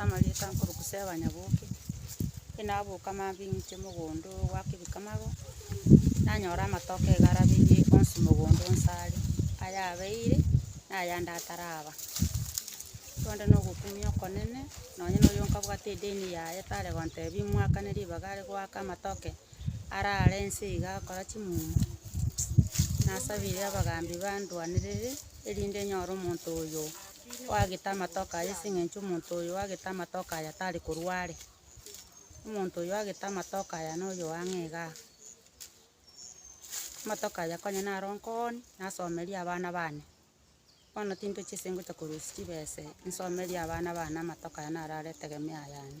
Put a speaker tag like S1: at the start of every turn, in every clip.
S1: Amarieta nkoroku Seba Nyaboke, inaboka maambia ing'ite mogondo gwa Kebikamago, nanyora amatoke iga arabeire onsi mogondo onsi are, ayabeire na ayande ataraba. Korende na ogokumia okonene, nonye nonya onkabwate edeni yaye tare gontebia imwakane ribaga are goaka amatoke. arare inse iga agakora chimuma, nasabire abagambi banduanerere, erinde nyore omonto oyo oagete amatoke aye ase eng'encho omonto oyo oagete amatoke aya tari korwa are. Omonto oyo oagete amatoke aya noyo ang'e iga iga. Amatoke aya konya naro nkooni, nasomerie abana bane. Bono tintochia ase ngocha korusia chibesa nsomerie abana bane amatuko aya naro are etegemeo yane.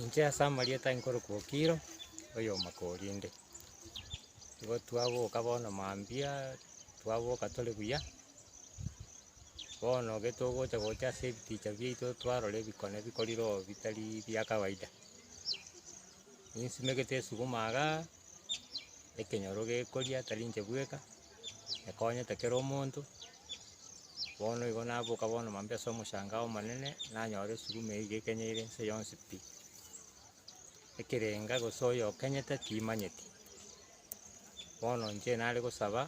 S1: Inche ase amarieta nkorokwa Okiro, oyomakorinde. Igo twaboka bono mambia, twaboka tore buya, bono gete ogocha gocha ase ebiticha biaito twarora ebikone bikorire oo bitari bia kawaida. Ninsimegete esuguma igaa, ekenyoro gekoria tari inche bweka. ekonyete kera omonto, bono igo naboka bono mambia ase omochangao omonene, nanyora esuguma eywo ekenyeire ense yonsi pi. Ekerenga gose oyo okenyete timanyeti, bono inche nare gosaba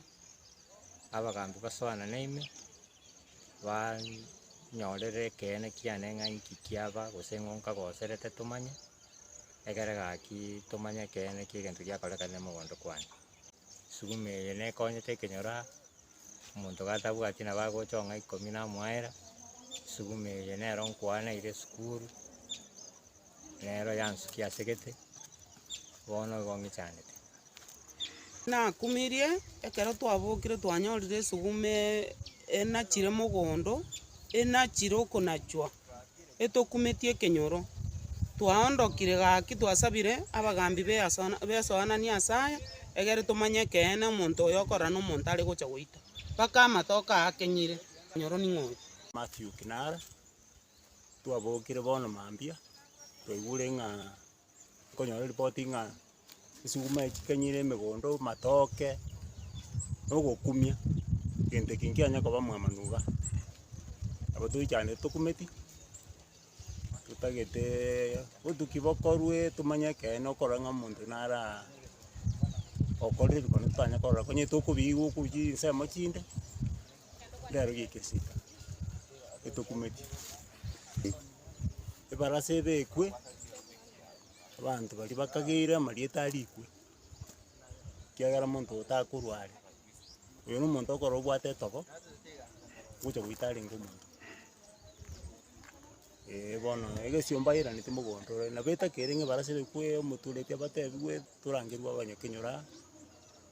S1: abagambi basoanane ime, baani nyorere ekeene kiane ng'a inki kiaba gose ng'o nkagoserete tomanye, egere gaki tomanye ekeene kia egento giakorekana ime mogondo kwane. esuguma eye nekonyete ekenyoro omonto gatabwati nabo agochong'a ikomi namoaera, esuguma eye nero nkwaneire esukuru, nero yansukia ase egete, bono igo ng'ichanete. Nakumirie ekero twabokire twanyorire esuguma ee enachire mogondo, enachire okonachwa. etokumetie ekenyoro. Twaondokire gaki twasabire abagambi b'esoanani ase aya egere tomanye ekeene omonto oyo okorora nomonto are gocha goita. Mpaka amatoke aa akenyire, ekenyoro ning'o oyo? Mathew Kinara, Twabokire bono mambia, twaigure ng'a Nkonyora ripoti ng'a esuguma eye chikanyire emegondo, matoke, na ogokumia, egento eke nkianya koba mwamanu iga. Nabo toichanete tokumeti, totageteeee obotuki bokorwe tomanye ekeene okorora ng'a omonto nara okorire ebi korende totanya korora, onye tokobiigwa okochia chinsemo chinde. Rero gegesika getokumetie, ebarasa ebekwe, abanto baria bakageire amarieta arikwe, ekiagera omonto oyo takorwa are. Oyo na omonto okorora obwate etogo, ogocha goita arenge omonto. Eeh bono egesio mbairaneti mogondo ore, nabo etagere ng'a ebarasa ebekwe, omotureti abatebiwe, torangerwe abanyakenyoro aa.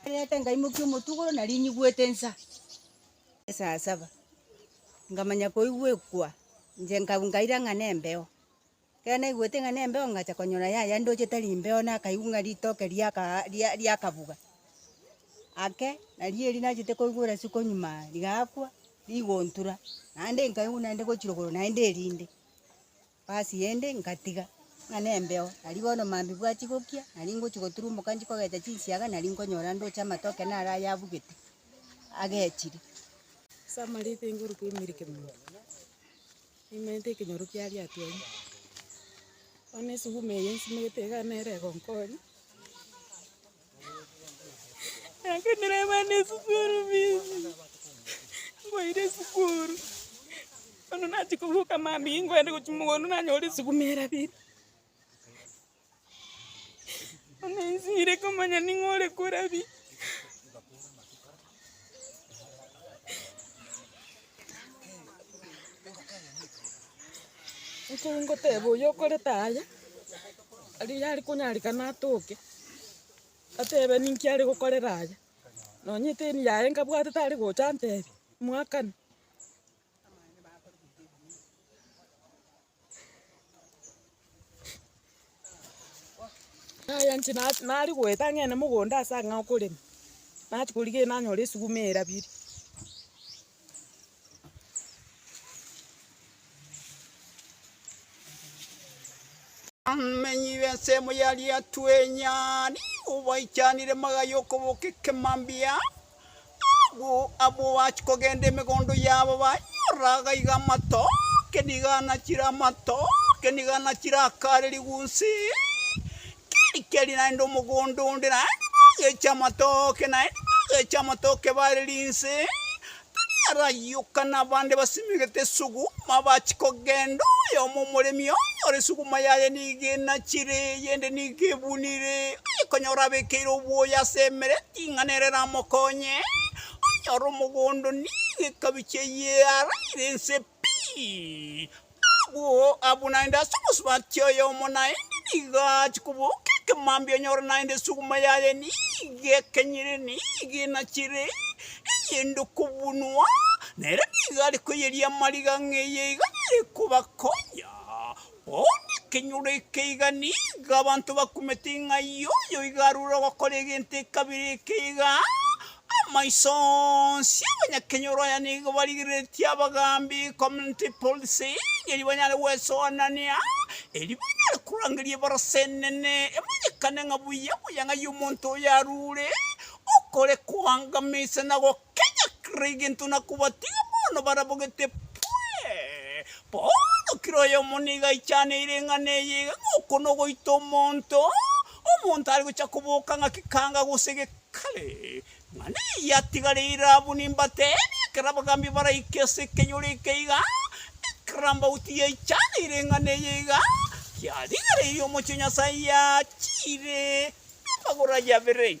S1: Nkairete nkaimokia omotugoro na rinyigwete ensa esaa saba, nkamanya koigwa ekwa, inche nka- nkaira ng'a nembeo. Ekero naigwete ng'a nembeo ngacha konyora yaya ndoche tari mbeo nakaigwa ng'a ritoke riaka ria- riakabuga, ake, nario erio nachete koigwa orasiku konyuma rigakwa. rigontura, naende nkaigwa naende gochira okoro naende erinde. Basi yende nkatiga, ng'a nembeo, nari bono mambia bwachia gokia, nari ngochia goturumboka nchia kogecha chinsiaga, nari nkonyora ndoche amatoke naro aya abugete, agechire. Ase amariko inkoruka emirike mono, nimerete ekenyoro kia riato erio, bono esuguma eye nsimegete iga nere egonkonya. Nakanera abana esukuru fees, mbaira esukuru, bono nachia kobuka mambia ingo ande gochia mogondo nanyora esuguma erabire. Bono insinyire komanya ning'o ore korabia. Ngoteba oyo okorete aya, riria are konyarerana atoke, atebe ninki are gokorera aya. Nonya eteni yaye nkabwatete are gocha antebi, mwakani. Yaya inche na- nari goeta ng'ende mogondo ase ang'e okorema, nati korigereria nanyore esuguma erabire. Abamenyi b'ensemo ya Riatuenyi, obaichanire magaye okoboka ekemambia. Abwo abwo bachia kogenda emegondo yabo banyora gaiga amatoke nigo anachire amatoke nigo anachire akare rigunsi keri keri naende omogondo onde naende bagecha amatoke naende bagecha amatoke bare rinse tari arayoka na abande basimegete esuguma bachia kogenda oyomo omoremi onyore esuguma yaye nigo enachire eyende nigo ebunire oye konyora abekeire obwoya ase emeremo Ring'ana ere ramokonye onyore omogondo negekabi chiaye araire ense pi. Abwo abwo naende ase omosubati oyomo naende nigo ache koboka ekemambia onyore naende esuguma yaye nigo ekenyire nigo enachire eyende okobunwa nere nigo arekoyeria amariga ng'eye iga arekobakonya. Bono ekenyoro ekeiga nigo abanto bakumete ng'a yoyo iga arure ogokora egento ekabire ekeiga. Amaiso onsi abanyakenyoro aya nigo barigereretie abagaambi, community policing, erio banyare gwesoanania, erio banyare korangeria ebarasa enene emanyekane ng'a buya buya ng'ai omonto oyo arure okore koangamisa na kenyakera egento na kobatiga bono barabwo gete pwe. Bono kera oyomo nigo aichaneire eng'ana eye iga ng'a oko nogoita omonto, omonto are gocha koboka ng'a kekanga gose gekare. Ng'ana eye yatigareire abwo nimbateebie, ekero abagaambi baraike ase ekenyoro eke iga, ekero Ambauti yaichaneire eng'ana eye iga, kiarigereirie omochie o Nyasae yachiire amagoro aye abere.